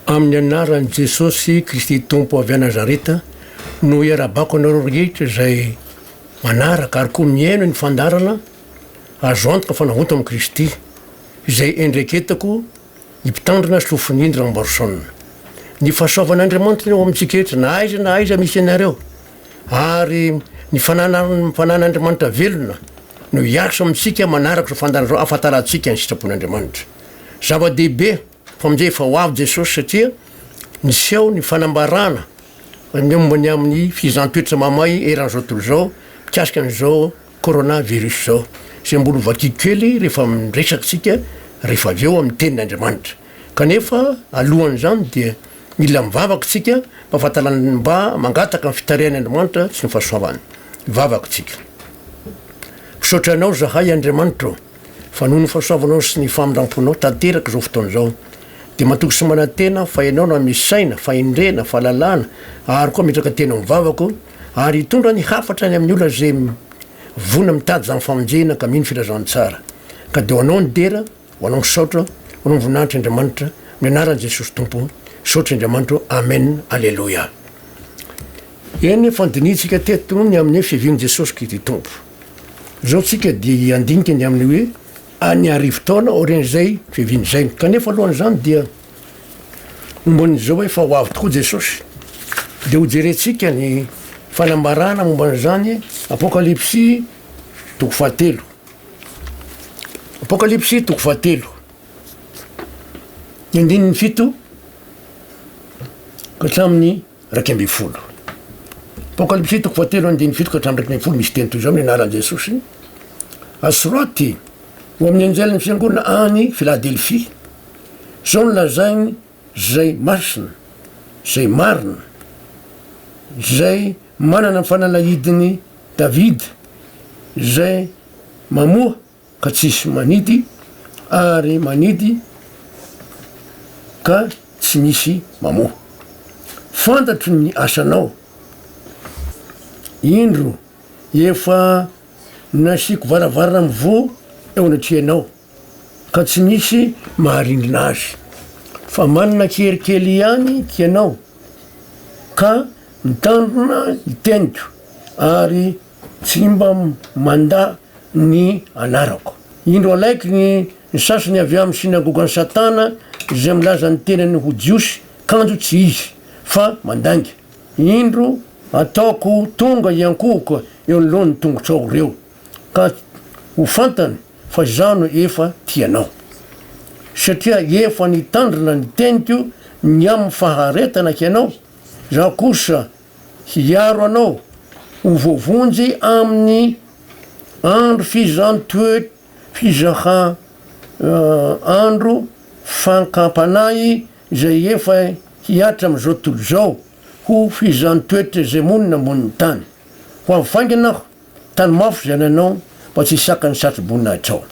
Amin'ny anaran'i Jesosy Kristy Tompo avy Nazareta no iarabako anareo rehetra izay manaraka ary koa mihaino ny fandaharana azo antoka fa navonto amin'i Kristy izay endreketako ny mpitandrina sy lofon'Indry Lambarson. Ny fahasoavan'Andriamanitra ny ao amintsika rehetra na aiza na aiza misy anareo ary ny fananan'ny fanan'Andriamanitra velona no hiasa amintsika manaraka izao fandaharana izao ahafantarantsika ny sitrapon'Andriamanitra. Zava-dehibe. Mpamdihy efa ho avy Jesosy satria niseho ny fanambarana ny momba ny amin'ny fihizan-toetra mahamay eran'izao tontolo izao mikasika an'izao Corona virus izao izay mbola ho vakiko kely rehefa miresaka isika rehefa avy eo amin'ny tenin'Andriamanitra. Kanefa alohan'izany dia mila mivavaka isika mba fahatalana mba mangataka ny fitarihan'i Andriamanitra sy ny fahasoavany. Mivavaka isika. Misaotra Anao izahay Andriamanitra o! Fa noho ny fahasoavanao sy ny famindramponao tanteraka izao fotoana izao, dia matoky sy manantena aho fa ianao no hanome saina, fahendrena, fahalalana, ary koa hametraka tena amin'ny vavako, ary hitondra ny hafatra any amin'ny olona izay vonona mitady izany famonjena ka mino filazantsara. Ka dia ho anao ny dera, ho anao ny saotra, ho anao ny voninahitra Andriamanitra, amin'ny anaran'i Jesosy Tompo, saotra Andriamanitra ô, amen, aleloia. Eny, efa nodinihintsika teto ny amin'ny hoe fiavian'i Jesosy Kristy Tompo. Izao isika dia hiandinika ny amin'ny hoe any arivo taona aorian'izay fiaviany izay. Kanefa alohan'izany dia momban'izao hoe fa ho avy tokoa Jesosy. Dia hojerentsika ny fanambarana momba an'izany, Apokalypsy toko fahatelo. Apokalypsy toko fahatelo. Ny andininy fito ka hatramin'ny iraika ambin'ny folo. Apokalypsy toko fahatelo andininy fito ka hatramin'ny iraika ambin'ny folo misy teny toy izao ny anaran'i Jesosy asoraty ho amin'ny anjelin'ny fiangonana any Filadelfia. Izao no lazainy izay masina, izay marina, izay manana ny fanalahidin'i Davida, izay mamoha ka tsisy manidy ary manidy ka tsy misy mamoha. Fantatro ny asanao. Indro efa nasiako varavarana mivoha eo anatrehanao ka tsy misy maharindrina azy. Fa manana kery kely ihany hianao ka mitandrina ny teniko ary Tsy mba mandà ny anarako. Indro alaiky ny sasany avy amin'ny synagogan'i Satana izay milaza ny tenany ho Jiosy kanjo tsy izy, fa mandainga. Indro ataoko tonga hiankohoka eo anoloan'ny tongotrao ireo, ka ho fantany fa Izaho no efa tia anao. Satria efa nitandrina ny teniko ny amin'ny faharetana hianao, Izaho kosa, Hiaro anao ho voavonjy amin'ny andro fizan-toet fizaha andro fakampanahy izay efa hihatra amin'izao tontolo izao ho fizan-toetra izay monina ambonin'ny tany. Ho avy faingana aho, tany mafy izany anao mba tsy hisakan'ny satroboninahittrao.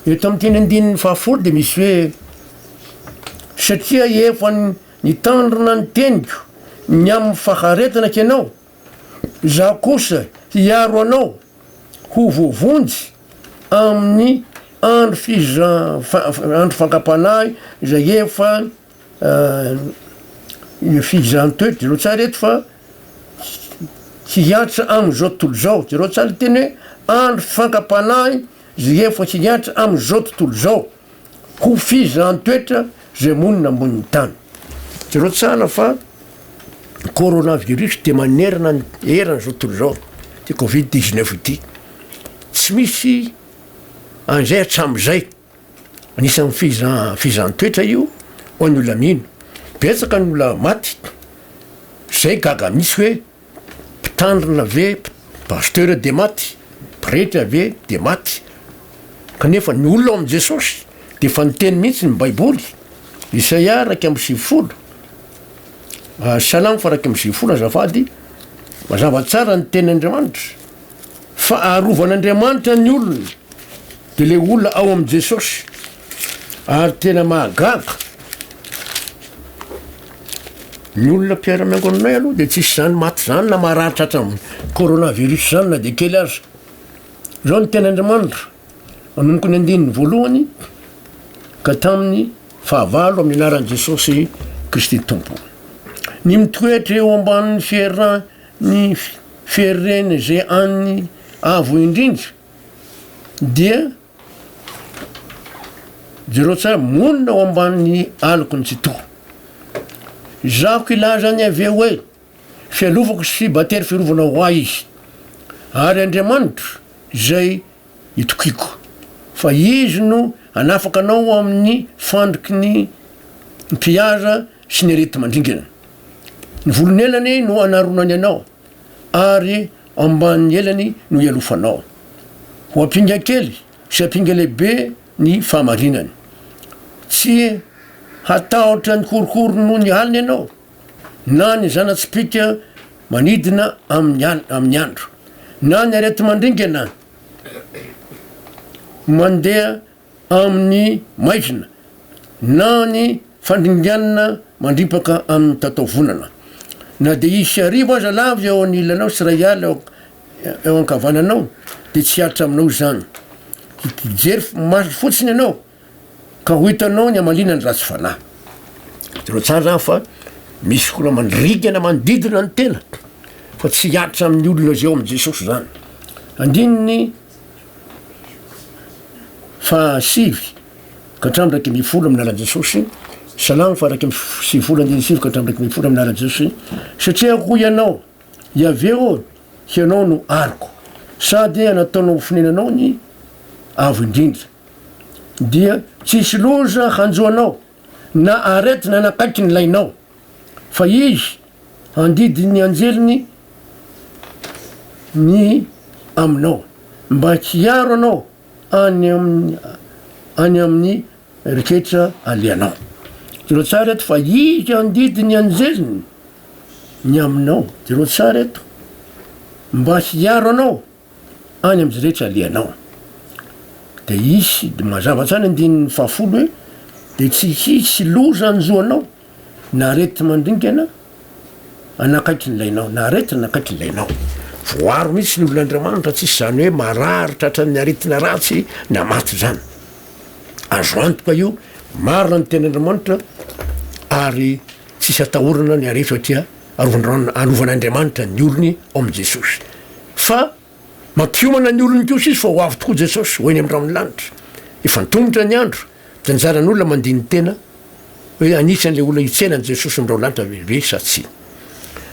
Eto amin'ity andininy fahafolo dia misy hoe, Satria efa Nitandrina ny teniko ny amin'ny faharetana kenao, Izaho kosa hiaro anao ho voavonjy amin'ny andro fiza, andro fankam-panahy izay efa Io fihizahan-to io, jereo tsara eto fa hihatra amin'izao tontolo izao, jereo tsara ny teny hoe andro fankam-panahy izay efa hihatra amin'izao tontolo izao. Ho fizan toetra zay monina ambonin'ny tany. Jereo tsara fa coronavirus dia manerana ny eran zao tontolo zao ty covid dix neuf ity. Tsy misy an'izay hatramin'izay. Anisan'ny fiza fizan toetra io ho an'ny olona mino. Betsaka ny olona maty. Zay gaga mihitsy hoe. Mpitandrina ve pasteur dia maty, pretra ve dia maty, kanefa ny olona ao amin'i Jesosy dia efa niteny mihitsy ny baiboly, Isaia iraika amby sivifolo, Salamo faha iraika amby sivifolo azafady, mazava tsara ny teny Andriamanitra fa arovan'Andriamanitra ny olony dia le olona ao amin'i Jesosy. Ary tena mahagaga, ny olona mpiara-miangona aminay aloha dia tsisy izany maty izany na marary tratran'ny corona virus izany na dia kely aza. Izao no tenin'Andriamanitra, manomboka ny andininy voalohany ka tamin'ny fahavalo amin'ny anaran'i Jesosy Kristy Tompo. Ny mitoetra eo ambanin'ny fieran'ny fieren'izay an'ny avo indrindra dia Jereo tsara, monina ao ambanin'ny alok'i Ntsitoha. Izahako hilaza an'i Yaveh hoe, Fialovako sy battery fiarovana ho ahy izy. Ary Andriamanitro izay itokiako. Fa izy no hanafaka anao amin'ny fandriky ny mpihaza sy ny areti-mandringana. Ny volon'elany no hanaronany anao. ary ambanin'ny elany no ialofanao. Ho ampinga kely sy ampinga lehibe ny fahamarinany. Tsy hatahotra ny korokoro noho ny alina ianao, na ny zana-tsipìka manidina amin'ny andro, na ny areti-mandringana mandeha amin'ny maizina na ny fandringanana mandripaka amin'ny tataovonana. Na dia hisy hariva aza lava eo anilanao sy iray ala eo eo ankavananao dia tsy hatra aminao izany. Hijery maso fotsiny ianao ka ho hitanao ny hamaliana ny ratsy fanahy. Hitanao tsara izany fa misy fotoana mandringana manodidina ny tena fa tsy hatra amin'ny olona izay ao amin'i Jesosy izany. Andininy Fahasivy ka hatramin'ny iraika ambin'ny folo amin'ny alalan'i Jesosy, salamo faha-iraika amby sivifolo andininy sy sivy ka hatramin'ny iraika ambin'ny folo amin'ny alalan'i Jesosy, satria hoy ianao, Iaveh ô, hianao no aroko, sady anataonao ho fonenanao ny Avo Indrindra, dia tsy hisy loza hanjo anao, na aretina hanakaiky ny lainao, fa Izy Handidin'ny anjeliny ny aminao, mba tsy hiaro anao any amin'ny any amin'ny riketra alehanao. Jereo tsara eto fa Izy handidin'ny anjeliny ny aminao. Jereo tsara eto, mba hiaro anao. any amin'izay rehetra alehanao. Dia hisy, dia mazava hatrany andininy fahafolo hoe, dia tsy hisy loza hanjo anao na arety mandringana hanakaiky ny lainao, na arety hanakaiky ny lainao. Voaro mihitsy ny olon'Andriamanitra, tsy izany hoe marary tratran'ny aretina ratsy na maty izany. Azo antoka io, marina ny tenin'Andriamanitra ary tsisy atahorana ny aretina satria Arovandron Arovan'Andriamanitra ny olony ao amin'i Jesosy. Fa mampiomana ny olony kosa Izy fa ho avy tokoa Jesosy, ho eny amin'ny rahon'ny lanitra. Efa antomotra ny andro, dia anjaran'olona mandini-tena hoe anisan'ilay olona hitsenan'i Jesosy ny raholaanitra ve ve sa tsia.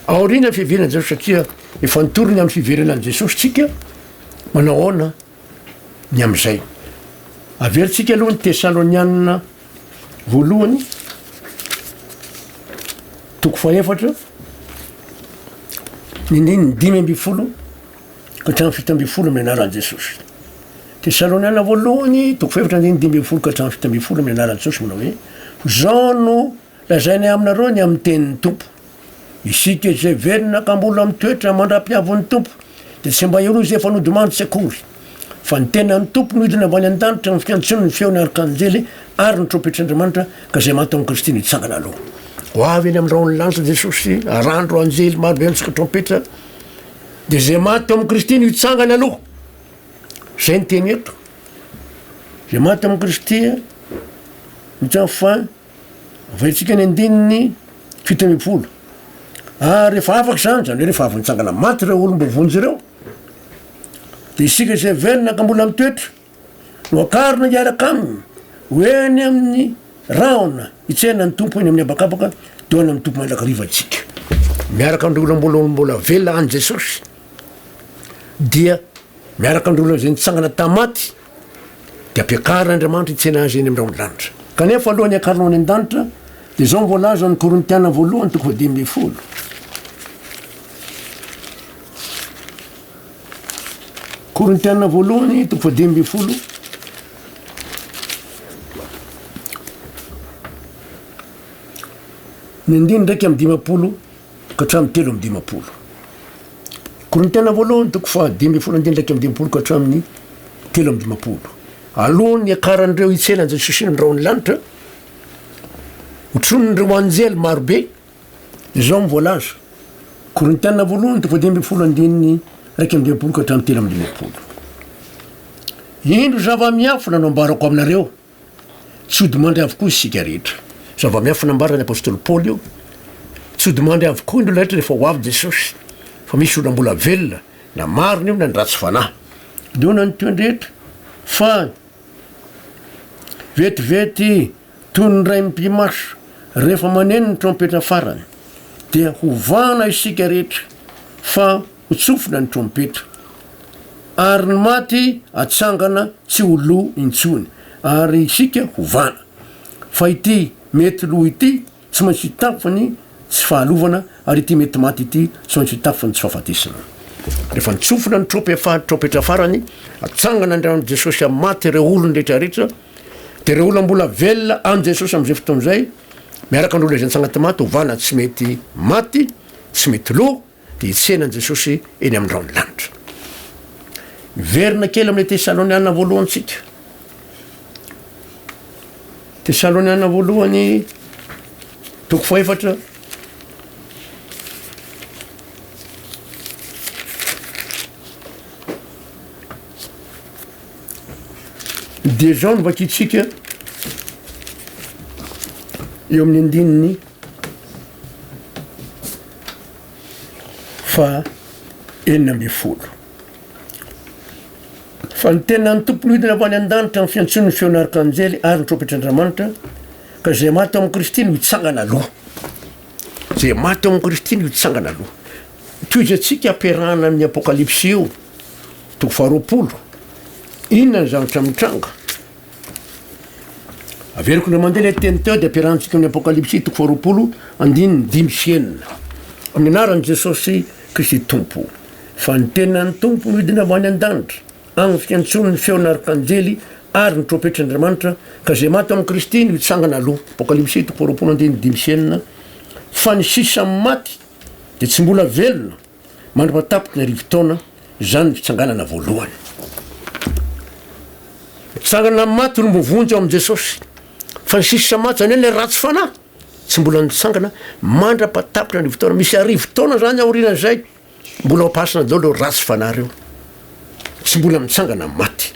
Aorianan'ny fiheveran'i Jesosy satria efa nitory ny amin'ny fiverenan'i Jesosy tsika, manao ahoana? ny amin'izay. Averintsika aloha ny Tesalonianina voalohany toko fahefatra ny ndininy dimy ambin'ny folo ka hatramin'ny fito ambin'ny folo amin'ny anaran'i Jesosy. Tesalonianina voalohany toko fahefatra ndininy dimy ambin'ny folo ka hatramin'ny fito ambin'ny folo amin'ny anaran'i Jesosy manao hoe ho zao no Lazainay aminareo ny amin'ny tenin'ny Tompo, Isika izay velona ka mbola mitoetra mandra-pihavin'ny Tompo, dia tsy mba ireo izay efa nodimandry tsy akory, fa ny tenan'ny Tompo no hidina avy any an-danitra amin'ny fiantsoan'ny feon'ny arkanjely ary ny trompetr'Andriamanitra, ka izay maty tamin'i Kristy nitsangana aloha. Ho avy eny amin'ny rahon'ny lanitra Jesosy, arahan'ireo anjely marobe mitsoka trompetra, dia izay maty tao amin'i Kristy no hitsangana aloha. Izay ny teny eto. Izay maty tao amin'i Kristy no hitsangana fa. Avaintsika ny andininy fito ambin'ny folo. Ary rehefa afaka izany, izany hoe rehefa avy nitsangana maty ireo olona mba vonjy ireo, dia isika izay velona ka mbola mitoetra no akarina hiaraka aminy ho eny amin'ny rahona hitsena ny tompo eny amin'ny habakabaka teo any amin'ny tompo mandrakariva antsika. Miaraka amin'ireo olona mbola mbola velona an'i Jesosy dia miaraka amin'ireo olona izay nitsangana tamin'ny maty dia ampiakaran'Andriamanitra hitsena azy eny amin'ireo an-danitra. Kanefa alohan'ny hiakarany any an-danitra, dia izao no voalazan'ny Korintiana voalohany toko fahadimy ambin'ny folo. Korintiana voalohany toko fahadimy ambin'ny folo. Ny andiny ndraiky amin'ny dimampolo ka hatramin'ny telo amby dimampolo. Korintiana voalohany toko fahadimy ambin'ny folo andininy iraika amby dimampolo ka hatramin'ny telo amby dimampolo. Alohan'ny akaran'ireo hitsena an'i Jesosy eny andraon'ny lanitra, hotronin'ireo anjely marobe izao ny voalaza. Korintiana voalohany toko fahadimy ambin'ny folo andininy iraika amby dimampolo ka hatramin'ny telo amby dimampolo. Indro zava-miafina no ambarako aminareo. Tsy hodi-mandry avokoa isika rehetra. Zava-miafina nambaran'ny apostoly Paoly io. Tsy hodi-mandry avokoa ny olona rehetra rehefa ho avy Jesosy, fa misy olona mbola velona, na marina io na ny ratsy fanahy. Inoana ny toy ny rehetra fa vetivety toy ny ray mpimaso rehefa maneno ny trompetra farany, dia hovahana isika rehetra fa ho tsofina ny trompetra, ary ny maty hatsangana tsy ho lo intsony, ary isika ho vana. Fa ity mety lo ity tsy maintsy hitafy ny tsy fahalovana, ary ity mety maty ity tsy maintsy hitafy ny tsy fahafatesana. Rehefa nitsofina ny trompetra farany, hatsangana indray amin'i Jesosy amin'ny maty ireo olony rehetrarehetra, dia ireo olona mbola velona amin'i Jesosy amin'izay fotoana izay, miaraka amin'ireo izay nitsanga tao anaty maty, ho vana tsy mety maty, tsy mety lo, dia hitsenan'i Jesosy eny amin'ny rahon'ny lanitra. Miverina kely amin'ilay Tesaloniana voalohantsika. Tesaloniana voalohany, toko fahefatra, dia izao no vakintsika eo amin'ny andininy Faha enina ambin'ny folo. Fa ny tenan'ny Tompo no hidina avy any an-danitra amin'ny fiantsoan'ny feon'arkanjely ary ny trompetr'Andriamanitra, ka izay maty ao amin'i Kristy no hitsangana aloha. Izay maty ao amin'i Kristy no hitsangana aloha. Tohizo antsika ampiarahana amin'ny apokalypsy io, toko faharoapolo. Inona ny zavatra mitranga? Averiko indray mandeha ilay teny teo dia ampiarahantsika amin'ny Apokalypsy toko faharoapolo andininy dimy sy enina. Amin'ny anaran'i Jesosy Kristy Tompo. Fa ny tenan'ny Tompo nidina avy any an-danitra, agny ny fiantsoan'ny feon'ny arkanjely ary ny trompetr'Andriamanitra, ka izay maty ao amin'i Kristy no hitsangana aloha. Apokalypsy toko faharoapolo andininy dimy sy enina. Fa ny sisa amin'ny maty dia tsy mbola velona. Mandra-patapitry ny arivo taona, izany ny fitsanganana voalohany. Nitsangana amin'ny maty olom-boa vonjy ao amin'i Jesosy. Fa ny sisa maty, izany hoe ilay ratsy fanahy, tsy mbola nitsangana mandra-patapitry ny arivo taona. Misy arivo taona izany aorianan'izay, mbola ao am-pahasina daholo ireo ratsy fanahy ireo. Tsy mbola mitsangana amin'ny maty.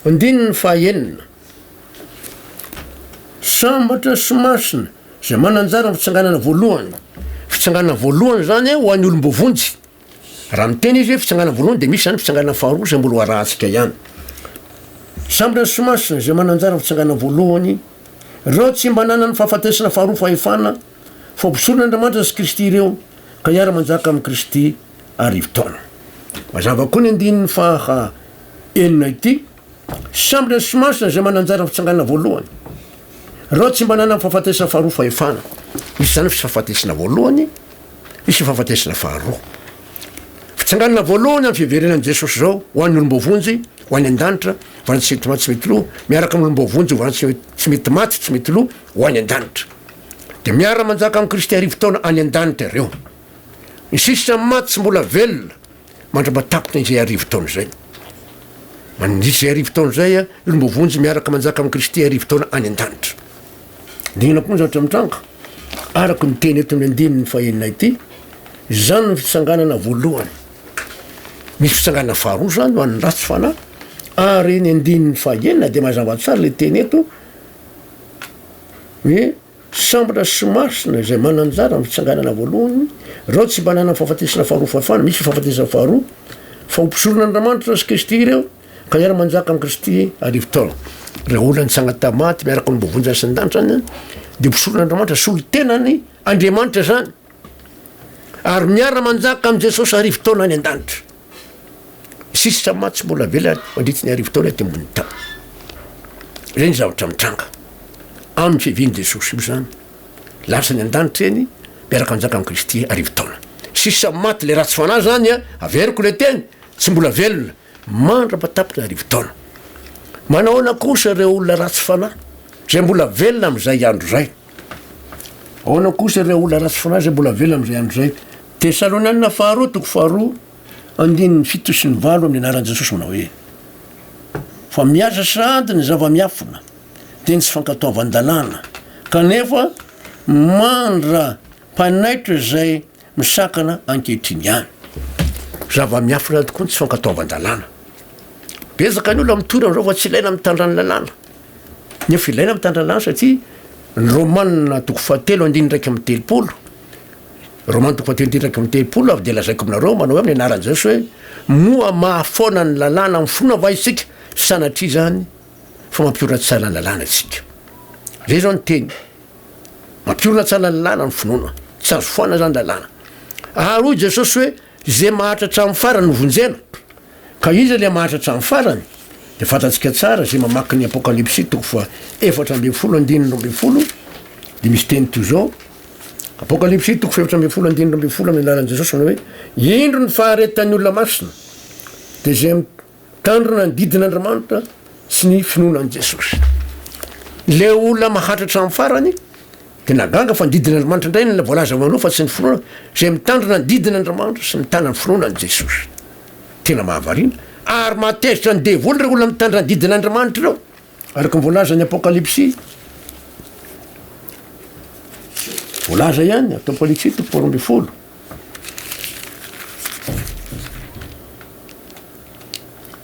Andininy fahaenina. Sambatra sy masina izay mananjara amin'ny fitsanganana voalohany. Fitsanganana voalohany izany ho an'ny olom-boavonjy. Raha miteny izy hoe fitsanganana voalohany dia misy izany fitsanganana faharoa izay mbola ho arahantsika ihany. Sambatra sy masina izay mananjara amin'ny fitsanganana voalohany, ireo tsy mba nanana ny fahafatesana faharoa fahefana, fa mpisorona Andriamanitra sy Kristy ireo, ka hiara-manjaka amin'i Kristy arivo taona. Mazava koa ny andininy faha enina ity. Samby ny smasn izay mananjara fitsangana voalohany. Ireo tsy mba nanana fahafatesana faharoa fahefana. Misy izany fisafatesana voalohany, misy fifafatesana faharoa. Fitsanganana voalohany amin'ny fiverenan'i Jesosy izao ho an'ny olom-boavonjy, ho any an-danitra, vana tsy mety maty tsy mety loha, miaraka amin'ny olom-boavonjy vana tsy mety, tsy mety maty tsy mety loha ho any an-danitra. Dia miara-manjaka amin'i Kristy arivo taona any an-danitra ireo. Ny sisa maty tsy mbola velona, Mandra-batapony izay arivo taona izay. Mandritra izay arivo taona izay, ireo mboa vonjy miaraka manjaka amin'i Kristy arivo taona any an-danitra. Dingana koa ny zavatra mitranga. Araka ny teny eto amin'ny andininy fahenina ity, izany ny fitsanganana voalohany. Misy fitsanganana faharoa izany ho an'ny ratsy fanahy. Ary ny andininy fahenina dia mazava tsara ilay teny eto hoe Sambatra sy Masina izay mananjara amin'ny fitsanganana voalohany, ireo tsy mba nanana fahafatesana faharoa fahafahana misy fahafatesana faharoa, fa ho mpisorona Andriamanitra sy Kristy ireo ka hiara manjaka amin'i Kristy arivo taona. Ireo olona nitsanga tamin'ny maty miaraka amin'ny mbo vonjy asandanitra any dia mpisorona Andriamanitra solon-tenany Andriamanitra izany. Ary miara-manjaka amin'i Jesosy arivo taona any an-danitra. Sisa mantsy mbola velany mandritry ny arivo taona ety ambonin'ny tany. Ireny ny zavatra mitranga. Amin'ny fiavian'i Jesosy io izany. Lasa ny an-danitra eny, miaraka manjaka amin'i Kristy arivo taona. Sisa maty ilay ratsy fanahy izany, averiko ilay teny, tsy mbola velona. Mandrapa tapitra arivo taona. Manahoana kosa ireo olona ratsy fanahy izay mbola velona amin'izay andro izay? Ahoana kosa ireo olona ratsy fanahy izay mbola velona amin'izay andro izay? Tesalonianina faharoa toko faharoa andininy fito sy ny valo amin'ny anaran'i Jesosy manao hoe, Fa miasa sahady ny zava-miafina, dia ny tsy fankatoavan-dalàna, kanefa mandra-panaitra izay misakana ankehitriny ihany. Zava-miafina tokoa ny tsy fankatoavan-dalàna. Betsaka ny olona mitory amin'izao fa tsy ilaina mitandrà ny lalàna. Nefa ilaina mitandrà ny lalàna satria ny Romana toko fahatelo andininy iraika amby telopolo, Romana toko fahatelo andininy iraika amby telopolo avy dia lazaiko aminareo manao hoe amin'ny anaran'i Jesosy hoe moa mahafoana ny lalàna amin'ny finoana va isika? Sanatria izany fa mampihoratsara ny lalàna isika. Izay izao ny teny. Mampiorina tsara ny lalana ny finoana. Tsy azo foana izany lalàna. Ary hoy Jesosy hoe, Izay maharitra hatramin'ny farany no vonjena. Ka iza ilay maharitra hatramin'ny farany? Dia fantatsika tsara, izay mamaky ny Apokalypsy toko faha efatra ambin'ny folo andininy roa ambin'ny folo, dia misy teny toy izao, Apokalypsy toko fahefatra ambin'ny folo andininy roa ambin'ny folo amin'ny alalan'i Jesosy manao hoe, Indro ny faharetan'ny olona masina, dia izay Tandrina ny didin'Andriamanitra sy ny finoana an'i Jesosy. Ilay olona mahantra hatramin'ny farany dia nagaga fa ny didin'Andriamanitra indray no voalaza ho anao fa tsy ny finoana, izay mitandrina ny didin'Andriamanitra sy mitana ny finoana an'i Jesosy. Tena mahavariana. Ary mahatezitra ny devoly ireo olona mitandrina ny didin'Andriamanitra ireo. Araka ny voalazan'ny Apokalypsy, voalaza ihany, Apokalypsy toko faharoa ambin'ny folo.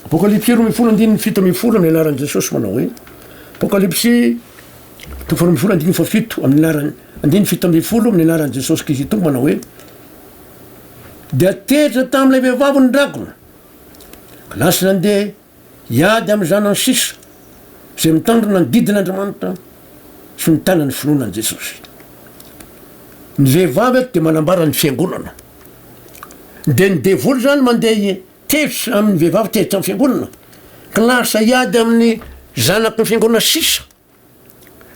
Apokalypsy roa ambin'ny folo andininy fito ambin'ny folo amin'ny anaran'i Jesosy manao hoe Apokalypsy toko faharoa ambin'ny folo andininy fahafito amin'ny anarany andininy fito ambin'ny folo amin'ny anaran'i Jesosy Kristy Tompo manao hoe dia tezitra tamin'ilay vehivavy ny dragona. Lasa nandeha Hiady amin'ny zanany sisa izay mitandrina ny didin' Andriamanitra sy mitana ny finoana an'i Jesosy. Ny vehivavy eto dia manambara ny fiangonana. Dia ny devoly izany mandeha tetsy amin'ny vehivavy tetsy amin'ny fiangonana ka lasa hiady amin'ny zanaky ny fiangonana sisa.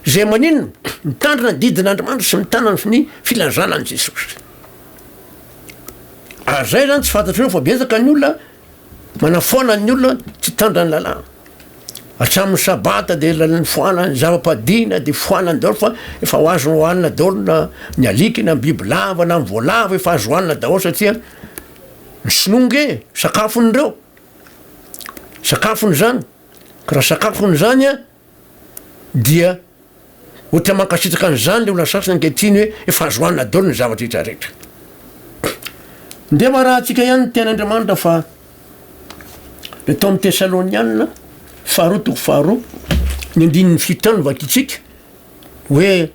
Izay maninona? Mitandrina ny didin'Andriamanitra sy mitana ny ny filazana an'i Jesosy. Ary zay zany tsy fantatrareo fa betsaka ny olona manafoana ny olona tsy hitandrina ny lalàna. Hatramin'ny sabata dia lalany foana ny zava-padihina dia foana ny daholo fa efa ho azo hohanina daholo na ny alika na ny biby lava na ny voalavo efa azo hohanina daholo satria ny sinoa nge sakafon'ireo. Sakafony zany. Ka raha sakafony zany an! dia ohatra mankasitraka an'izany ilay olona sasany ankehitriny hoe efa azo hanina daholo ny zavatra rehetra rehetra. Ndeha varahantsika ihany ny tenin'Andriamanitra fa le tao amin'ny Tesalonianina faharoa toko faharoa ny andininy fito any vakintsika hoe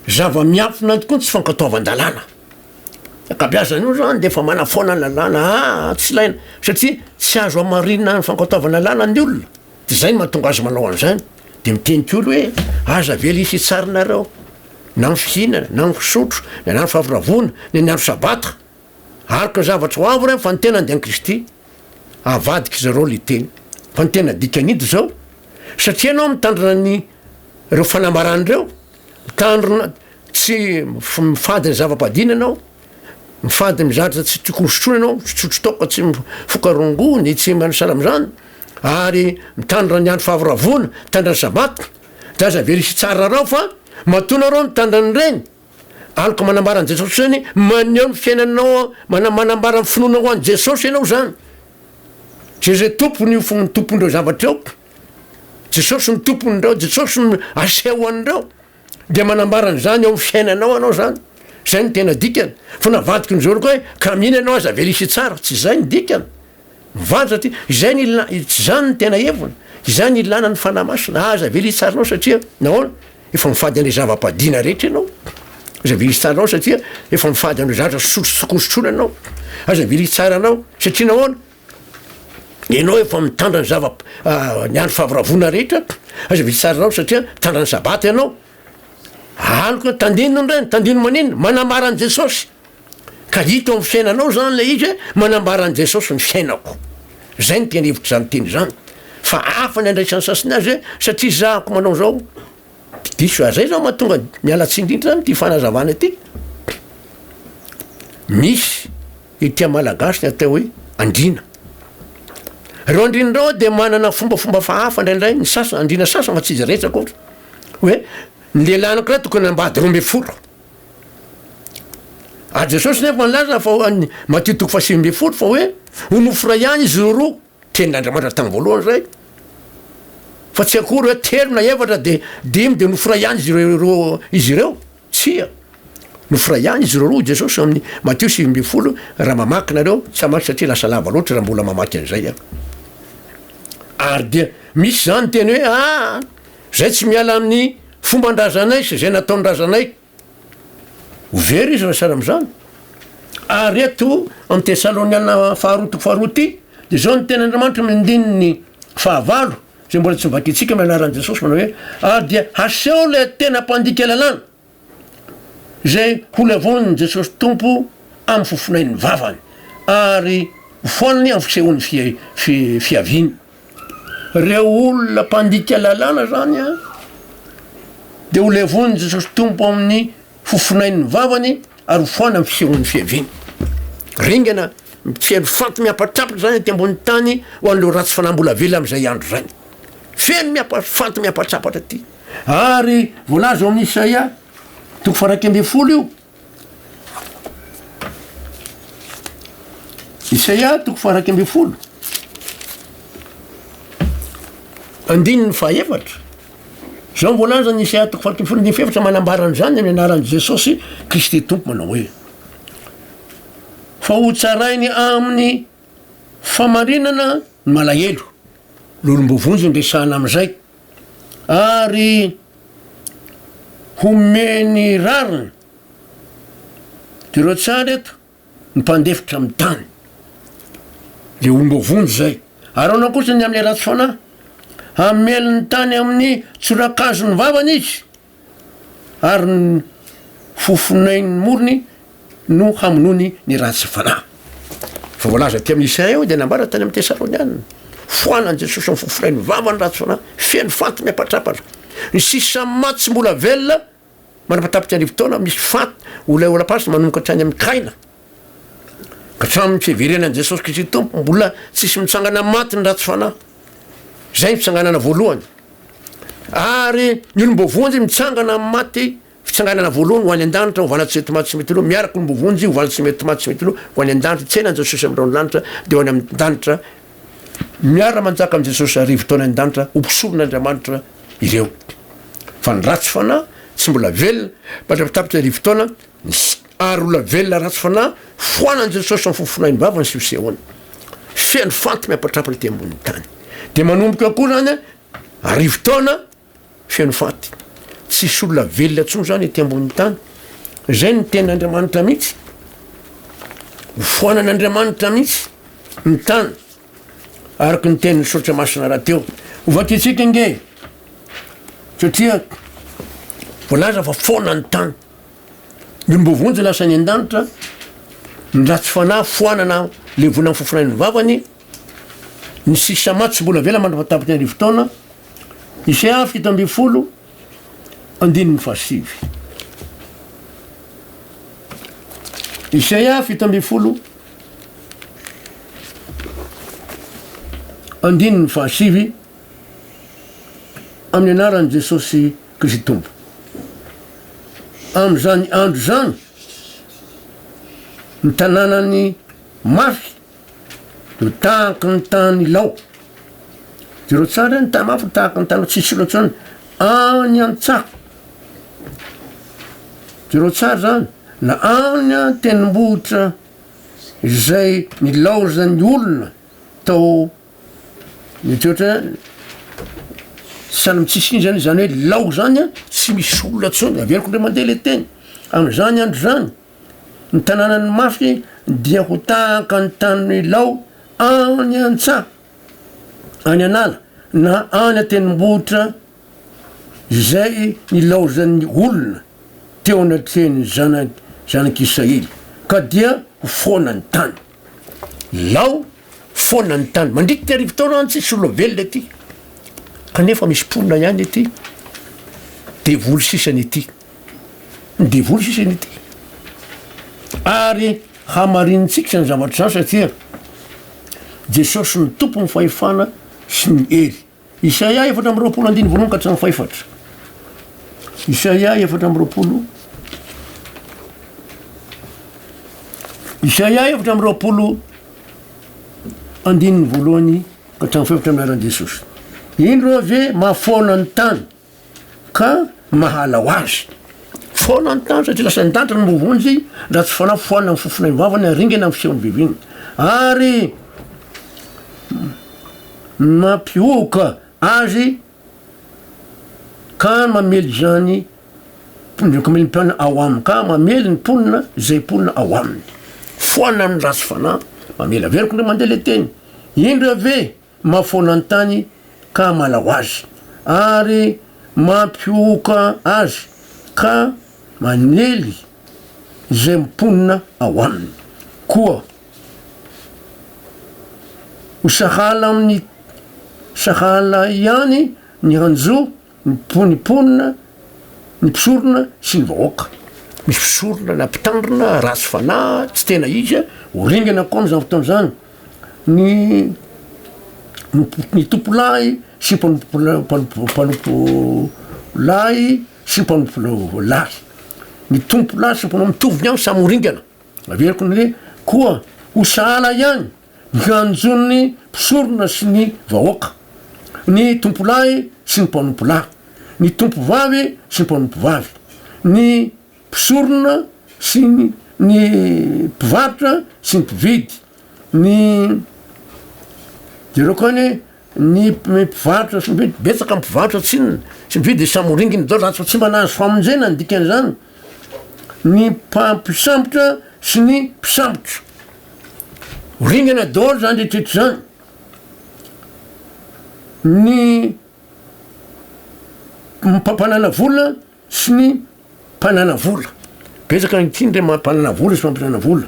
zava-miafina tokoa ny tsy fankatoavan-dalàna. Ankabeazany io zany dia efa manafoana ny lalàna, ah tsy ilaina satria tsy azo hamarinina ny fankatoavan-dalàna ny olona. Izay no mahatonga azy manao an'izany. Dia miteny koa ry hoe, Aza avela hisy hitsarinareo, na ny fihinana, na ny fisotro, na ny andro fahavoravoana, na ny andro Sabata. Araka ny zavatra ho avy ireny, fa ny tenany dia an'i Kristy. Avadik'izy ireo ilay teny. Fa ny tena dikany dia izao, Satria ianao mitandrina ny ireo fanambarana ireo, mitandrina tsy mifady ny zava-padihana ianao, Mifady mizatra tsy tiko hosotroina ianao, mitsotro toaka tsy mifoka rongony, tsy manasala amin'izany, ary mitandra ny andro fahavoravoana, mitandra ny sabata, dia aza very hitsara rao fa matoa narao mitandra an'ireny, aloka manambara an'i Jesosy izany, maneho ny fiainanao, manambara ny finoanao ho an'i Jesosy ianao izany. Jesosy tompony io fo ny tompon'ireo zavatra io. Jesosy ny tompony ireo, Jesosy no aseho an'ireo. Dia manambara an'izany eo amin'ny fiainanao anao izany. Izay no tena dikany. Fa navadiky ny zoriko hoe, ka mino ianao aza velisi tsara. Tsy izay ny dikany. Mivady satria izay no ilana, tsy izany ny tena heviny. Izay no ilana ny Fanahy Masina. Aza velisi tsara anao satria, nahoana? Efa mifady an'ilay zava-padiana rehetra ianao. Aza velisi tsara anao satria efa mifady an'ireo zavatra sosotrososotrosotroana anao. Aza velisi tsara anao satria nahoana? Ianao efa mitandra ny zava ny andro favoravoana rehetra, aza vitsy sarinao satria mitandra ny sabata ianao. Aloka tandino ny reny, tandino maninona? Manambara an'i Jesosy. Ka hita ao amin'ny fiainanao zany ilay izy hoe manambara an'i Jesosy ny fiainako. Zay ny tena hevitr'izany teny izany. Fa hafa ny andraisan'ny sasany azy hoe satria zahako manao zao. Diso zay zao mahatonga miala tsiny indrindra zany ity fanazavana ity. Misy ity amin'ny malagasy ny atao hoe andriana. Ireo andriana ireo dia manana fombafomba fahafa indraindray ny sasany andriana sasany fa tsy izy rehetra akory. Hoe ny lehilahy anankiray tokony ambady roa ambin'ny folo. A Jesosy nefa nilaza fa matio toko fahasivy ambin'ny folo fa hoe ho nofo iray ihany izy ireo roa. Tenin'Andriamanitra tamin'ny voalohany izay, fa tsy akory hoe telo na efatra dia dimy dia noforay ihany izy ireo, izy ireo. Tsia. Noforay ihany izy ireo roa, hoy Jesosy ao amin'ny Matio sivy ambin'ny folo, raha mamaky nareo, tsy hamaky satria lasa lava loatra raha mbola mamaky an'izay aho. Ary dia misy izany teny hoe, Ah! Izay tsy miala amin'ny fomban-drazanay sy izay nataon'ny razanay. Ho very izy raha sahala amin'izany. Ary eto amin'ny Tesaloniana faharoa toko faharoa ity, dia izao ny tenin'Andriamanitra amin'ny andininy fahavalo, izay mbola tsy vakintsika amin'ny anaran'i Jesosy, manao hoe, Ary dia haseho ilay tena mpandika lalàna, izay holevonin'i Jesosy Tompo amin'ny fofonain'ny vavany, ary ho foaniny amin'ny fisehoan'ny fihaviany. Ireo olona mpandika lalàna izany dia ho levonin'i Jesosy Tompo amin'ny fofonain'ny vavany ary ho foana amin'ny fisehoan'ny fiaviany. Ringana mitsely faty miampatrapitra izany aty ambony tany ho an'ireo ratsy fanahy mbola velona amin'izay andro izany. Feno miapa, faty miampatrapatra aty. Ary voalaza ao amin'ny Isaia toko faha iraika ambin'ny folo io. Isaia toko fahairaika ambin'ny folo andininy fahaefatra zao ny voalazan'ny Isaia toko fahairaika ambin'ny folo andininy fahefatra manambara an'izany amin'ny anaran'i Jesosy Kristy Tompo manao hoe fa ho tsarainy amin'ny famarinana ny malahelo, ny olom-boavonjy no resahana amin'izay. ary homeny rariny de reo tsara eto ny mpandefitra amin'ny tany de omba vonjy zay ary anao kosa ny amle ratsy fanahy hamely ny tany amin'ny tsorakazo ny vavany izy ary ny fofonain'ny morony no hamonoany ny ratsy fanahy. Fa voalaza aty amin'ny Isaia eo dia nambara tany amin'ny Tesaronianina, foanan'i Jesosy ny fofonain'ny vava ny ratsy fanahy, feno faty miapatrapatra. Ny sisa maty tsy mbola velona, manapatapitra arivo taona, misy faty, olona eo laplace manomboka hatrany amin'ny Kaina. Hatramin'ny fiheverenan'i Jesosy Kristy Tompo, mbola tsisy mitsangana amin'ny maty ny ratsy fanahy. Izay ny fitsanganana voalohany. Ary ny olom-boavonjy mitsangana amin'ny maty, fitsanganana voalohany ho any an-danitra, hovana tsy mety maty tsy mety lo, miaraka olom-boavonjy hovana tsy mety maty tsy mety lo, ho any an-danitra, tsy any Jesosy amin'ny raon'ny lanitra, dia ho any amin'ny danitra, miara-manjaka amin'i Jesosy arivo taona any an-danitra, ho mpisoron'Andriamanitra ireo. Fa ny ratsy fanahy, tsy mbola velona, mandra-pitapika arivo taona, Nisy ary olona velona ratsy fanahy foanan'i Jesosy amin'ny fofonainy bava ny siosehony. Feno fanty miapatrapa ety ambonin'ny tany. Dia manomboka koa izany arivo taona feno fanty. Tsisy olona velona intsony izany ety ambonin'ny tany. Izay ny tenin'Andriamanitra mihitsy. Hofoanan'Andriamanitra mihitsy ny tany araka ny tenin'ny soratra masina rahateo. Hovakintsika nge satria voalaza fa foana ny tany. Ny olom-boa vonjy lasa any an-danitra, ny ratsy fanahy foanana levona amin'ny fofonain'ny vavany, ny sisa maty tsy mbola avela mandra-patapitry ny arivo taona, Isaiah fito ambin'ny folo, andininy fahasivy. Isaiah fito ambin'ny folo, andininy fahasivy, amin'ny anaran'i Jesosy Kristoba. Amin'izany andro izany, ny tanànan'i Mafy no tahaky ny tanilao. Jereo tsara hoe ny tany Mafy no tahaky ny tanilao, tsy hisy intsony any an-tsaha. Jereo tsara izany, na any an-tendrombohitra izay nilaozan'ny olona tao Mety ohatra sahala amintsisy inona zany, zany hoe lao zany a tsy misy olona tsony, averiko ndray mandeha le teny, am'zany andro zany ny tanànan'ny mafy dia ho tahaka ny tanin'ny lao any an-tsaha, any an'ala na any an-tendrombohitra izay nilaozan'ny olona teo anatrehan'ny zana- zanak'Israely ka dia ho foana ny tany. Lao foana ny tany. Mandritika arivo taona any tsisy olona velona ety. Kanefa misy mponina ihany ety. Devoly sisany ety. Ny devoly sisany ety. Ary hamarinintsika izany zavatra izany satria Jesosy ny tompony fahefana sy ny hery. Isaia efatra amby roapolo andiny voalohany ka hatramin'ny fahefatra. Isaia efatra amby roapolo. Isaia efatra amby roapolo andininy voalohany ka hatramin'ny fahefatra milaza an'i Jesosy. Indro ve mahafoana ny tany ka mahala ho azy. Foana ny tany satria lasa nidadra ny voavonjy raha tsy fanao foana ny fofona ivavany ary ringana ny feon'ny viviny. Ary mampihohoka azy ka mamely izany mpikamely mpiana ao aminy ka mamely ny mponina izay mponina ao aminy foana ny ratsy fanahy mamela averiko ndray mandeha le teny indra ve mahafoana ny tany ka hamala ho azy, ary mampihohoka azy ka manely izay mponina ao aminy, koa ho sahala amin'ny sahala ihany ny hanjo, Ny ny mponina, ny mpisorona sy ny vahoaka. Misy mpisorona na mpitandrina ratsy fanahy, tsy tena izy a, ho ringana koa amin'izany fotoana izany ny ny tompo lahy sy mpanompo mpanompo mpanompo lahy sy mpanompo lahy, ny tompo lahy sy ny mpanao mitovy ihany samy ho ringana, averiko ny hoe koa ho sahala ihany. Ny fiantsoan'ny mpisorona sy ny vahoaka, ny tompolahy sy ny mpanompolahy, ny tompovavy sy ny mpanompovavy, ny mpisorona sy ny mpivarotra sy ny mpividy, ny. Jereo koa anie. Ny mpivarotra sy mpividy, betsaka ny mpivarotra tsinona sy mpividy hisamoringiny daholo zany fa tsy mba nahazo famonjena ny dikan'izany ny mpampisambotra sy ny mpisambotra. Ho ringana daholo zany rehetrrehetra zany. Ny mpampanana vola sy ny mpanana vola, betsaka ankehitriny rey mampanana vola sy mampiasa vola,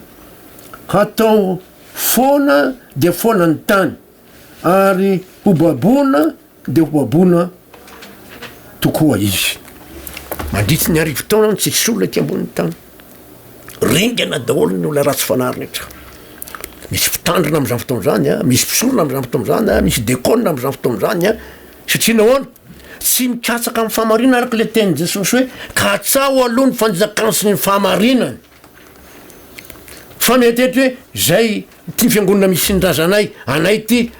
hatao foana dia foana ny tany. ary ho baboina dia ho baboina tokoa izy. Mandritra ny arivo taona no tsisy olona ety ambonin'ny tany. Ringana daholo ny olona ratsy fanahy rehetra. Misy mpitandrina amin'izany fotoana izany, ah, misy mpisorona amin'izany fotoana izany, ah, misy dekona amin'izany fotoana izany, ah. satria nahoana? Tsy mikatsaka amin'ny fahamarinana araka ilay tenin'i Jesosy hoe katsaho aloha ny fanjakany sy ny fahamarinany. Fa miantehitra hoe izay ity fiangonana misy ny razanay anay ity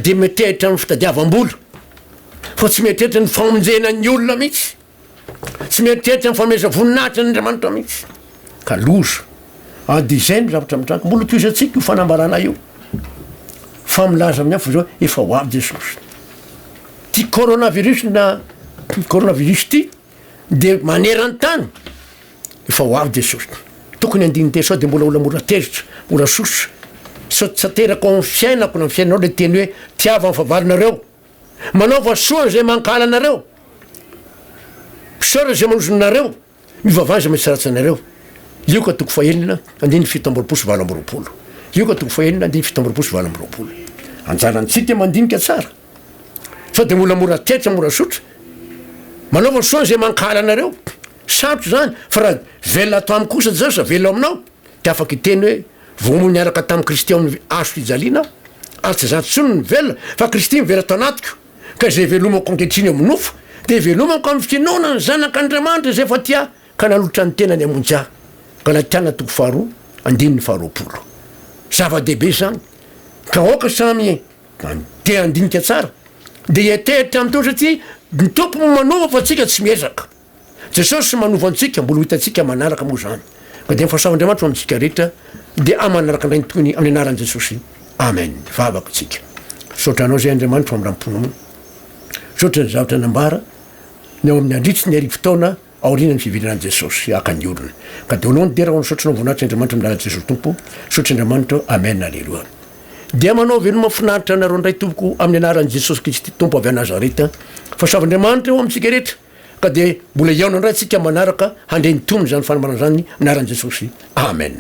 dia miantehitra amin'ny fitadiavam-bola fa tsy miantehitra ny famonjena ny olona mihitsy. Tsy miantehitra ny fanomezam-voninahitra an'Andriamanitra mihitsy. Ka loza. Ary dia izay no zavatra mitranga. Mbola tohizantsika io fanambarana io. Fa milaza amin'ny hafa zao efa ho avy Jesosy. Ty coronavirus na coronavirus ty Dia maneran-tany efa ho avy Jesosy. Tokony handini-teny sao dia mbola olona mora tezitra, mora sosa. Sao tsy aterako ao amin'ny fiainako na amin'ny fiainanao ilay teny hoe tiava ny fahavalonareo. Manaova soa an'izay mankahala anareo. Misaora izay manozona anareo. Mivavaha izay mitsaratsy anareo. Lioka toko fahenina, andininy fito amby roapolo sy valo amby roapolo. Lioka toko fahenina, andininy fito amby roapolo sy valo amby roapolo. Anjarantsika mandinika tsara. Sao dia mbola mora tetika mora zotra? Manaova soa izay mankahala anareo. Sarotra izany fa raha velona ato amiko kosa Jesosy raha velona ao aminao dia afaka hiteny hoe vao hoy niaraka tamin'i Kristy ao amin'ny hazo fijaliana aho ary tsy izaho intsony no velona fa Kristy mivelona tao anatiko ka izay velomako ankehitriny eo amin'ny nofo dia velomako amin'ny finoana ny zanak'Andriamanitra izay efa tia ka nanolotra ny tenany hamonjy ahy. Galatiana toko faharoa andininy faharoapolo. Zava-dehibe izany ka aoka samy Any. Dia handinika tsara. Dia hieritreritra amin'ny Tompo satria ny Tompo no manova fa tsika tsy miezaka. Jesosy manova antsika, mbola ho hitantsika manaraka moa izany. Ka dia ny fahasavan'Andriamanitra ho amintsika rehetra dia amin'ny manaraka indray ny tohiny amin'ny anaran'i Jesosy. Amen. Vavaka tsika. Misaotra Anao izay Andriamanitro amin'ny ram-ponao. Misaotra izay zavatra nambara ny ao amin'ny Andritry ny arivo taona. Aorianan'ny fiverenan'i Jesosy haka ny olona ka de olon dera ho misaotra anao voninahitra Andriamanitra amin'ny lalan'i Jesosy Tompo misaotra Andriamanitra Amen Aleloa Dia manao veloma finaritra anareo indray tompoko amin'ny anaran'i Jesosy Kristy Tompo avy à Nazareta fa soavy Andriamanitra eo amintsika rehetra ka de mbola hihaona indray antsika manaraka handray ny tombony izany fanambarana izany anaran'i Jesosy Amen.